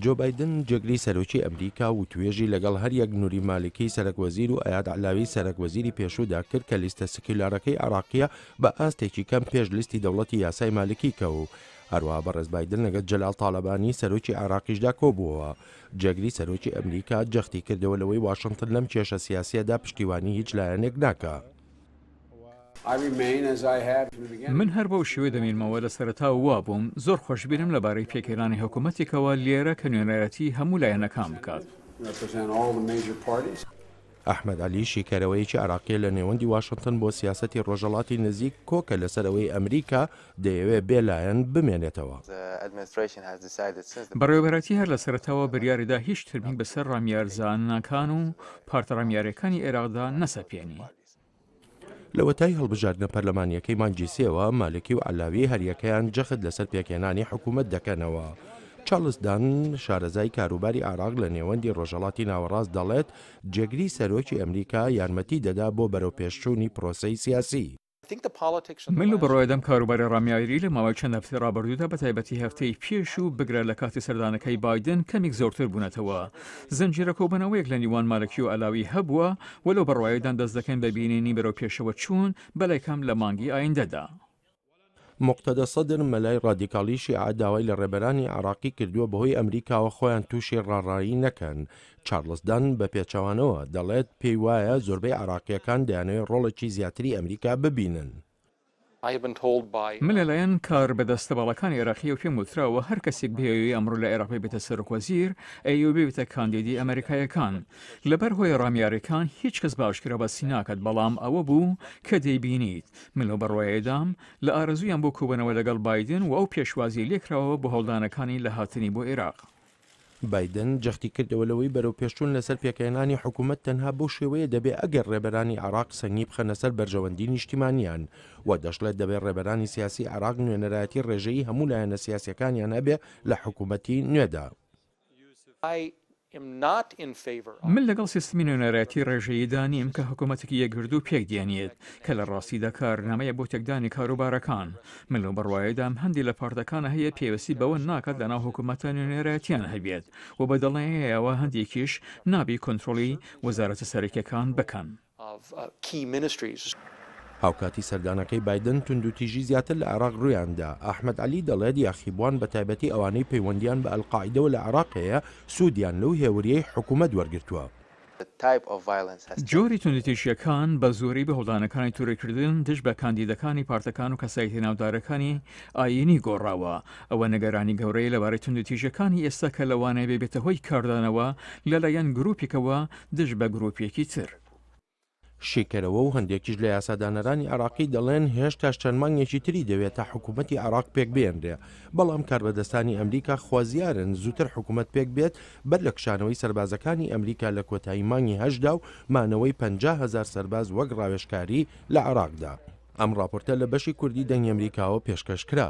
جۆ بایدن جێگری سەرۆکی ئەمریکا و توێژی لەگەڵ هەریەک نوری مالکی سەرەک وەزیر و ئەیاد علاوی سەرەک وەزیری پێشودا کرد کە لیستە سکیلارەکەی عراقیە بە ئاستێکی کەم پێش لیستی دەوڵەتی یاسای مالکی کە و هەروە بەڕێز بادن لەگەت جەلال تاالبانی سەرۆکی عراقیشدا کۆبووەوە جێگری سەرۆکی ئەمریکا جەختی کردەوە لەوەی واشنگتن لەم کێشە سیاسیەدا پشتیوانی هیچ لایەنێک ناکە. من هەر بەو شێوەیە دەمێنمەوە، لە سەرەتاوە وا بووم، زۆر خۆشبیرم لەبارەی پێکهێنانی حکومەتێکەوە لێرە کە نوێنەرایەتی هەموو لایەنەکان بکات. ئەحمەد عەلی، شیکەرەوەیەکی عێراقییە لە نێوەندی واشنتن بۆ سیاسەتی ڕۆژهەڵاتی نزیک کۆکە لەسەر ئەوەی ئەمریکا دەیەوێت بێ لایەن بمێنێتەوە. بەڕێوەبەرایەتی هەر لە سەرەتاوە بریاری دا هیچ ترمی بەسەر ڕامیارزانەکان و پارتە ڕامیارییەکانی عێراقدا نەسەپێنی. لەوەتای هەڵبژاردنە پەرلەمانیەکەی مانگی سێوە مالکی و علاوی هەریەکەیان جەخت لەسەر پێکهێنانی حکوومەت دەکەنەوە. چارلزدان شارەزای کاروباری عراق لە نێوەندی ڕۆژەڵاتی ناوەڕاست دەڵێت جێگری سەرۆکی ئەمریکا یارمەتی دەدا بۆ بەرەوپێشچوونی پرۆسەی سیاسی. من و بڕوایەدەم کاروباری ڕامیاریی لە ماوەی چەند هەفتەی ڕابردوودا بەتایبەتی هەفتەی پێشوو بگرە لە کاتی سەردانەکەی بایدن کەمیک زۆرتر بوونەتەوە. زنجیرە کۆبوونەوەیەک لە نیوان مالکی و عەلاوی هەبووە و لەو بڕوایەدان دەست دەکەین بە بینینی بەرەوپێشەوەچوون بەلایکەم لە مانگی ئایندەدا. موقتەدا سەدر مەلای ڕادیکاڵی شیعە داوای لە ڕێبەرانی عێراقی کردووە بەهۆی ئەمریکاوە خۆیان تووشی ڕاڕایی نەکەن. چارڵس دان بە پێچەوانەوە دەڵێت پێی وایە زۆربەی عێراقییەکان دەیانەوێت ڕۆڵێکی زیاتری ئەمریکا ببینن. من لەلایەن کاربەدەستە باڵاکانی عێراقییەوە پێم وتراوە هەر کەسێک بیەوێ ئەمڕۆ لە عێراق ببێتە سەرۆکوەزیر، ئەیەوێ ببێتە کاندیدی ئەمەریکاییەکان. لەبەر هۆی ڕامیارییەکان هیچ کەس بە ئاشکرا باسی ناکات، بەڵام ئەوە بوو کە دەیبینیت. من لەو بڕوایەدام، لە ئارەزوویان بۆ کۆبوونەوە لەگەڵ بایدن و ئەو پێشوازییەی لێکراوە بۆ هەوڵدانەکانی لە هاتنی بۆ عێراق. بایدن جەختی کردەوە لەوەی بەرەوپێشچوون لەسەر پێکهێنانی حکومەت تەنها بەو شێوەیە دەبێت ئەگەر رێبەرانی عێراق سەنگی بخەنە سەر بەرژەوەندی نیشتیمانیان و دەشڵێت دەبێت رێبەرانی سیاسی عێراق نوێنەرایەتی رێژەیی هەموو لایەنە سیاسیەکانیان هەبێت لە حکومەتی نوێدا. من لەگەڵ سیستمی نوێنەرایەتی رێژەییدا نیم کە حکومەتێکی یەکگردوو پێک دێنیت، کە لە راستیدا کارنامەیە بۆ تێکدانی کاروبارەکان. من لەو بڕوایەدام هەندێ لە پارتەکان هەیە پێویستی بەوە ناکات لەناو حکوومەتە نوێنەرایەتیان هەبێت و بە دڵنیایەوە هەندێکیش نابێ کۆنترۆڵی وەزارەتە سەرەکییەکان بکەن. هاوکاتی سەردانەکەی بایدن، توندوتیژی زیاتر لە عێراق روویاندا، ئەحمەد عەلی دەڵێت یاخیبووان بەتایبەتی ئەوانەی پەیوەندییان بە ئەلقاعیدەوە لە عێراق هەیە، سوودیان لەو هێورییەی حکومەت وەرگرتووە. جۆری توندوتیژییەکان بە زۆری بە هەوڵدانەکانی تورککردن دژ بە کاندیدەکانی پارتەکان و کەسایەتیە ناودارەکانی ئایینی گۆڕاوە. ئەوە نیگەرانی گەورەیە لەبارەی توندوتیژییەکانی ئێستا کە لەوانەیە ببێتە هۆی کاردانەوە لەلایەن گروپێکەوە دژ بە گروپێکی تر. شیکەرەوە و هەندێکیش لە یاسادانەرانی عێراقی دەڵێن هێشتاش چەند مانگێکی تری دەوێت تا حکوومەتی عێراق پێکبێنرێ، بەڵام کاربەدەستانی ئەمریکا خوازیارن زووتر حکوومەت پێکبێت بەر لە کشانەوەی سەربازەکانی ئەمریکا لە کۆتایی مانگی هەشتدا و مانەوەی پەنجا هەزار سەرباز وەک ڕاوێژکاری لە عێراقدا. ئەم ڕاپۆرتە لە بەشی کوردی دەنگی ئەمریکاوە پێشکەش کرا.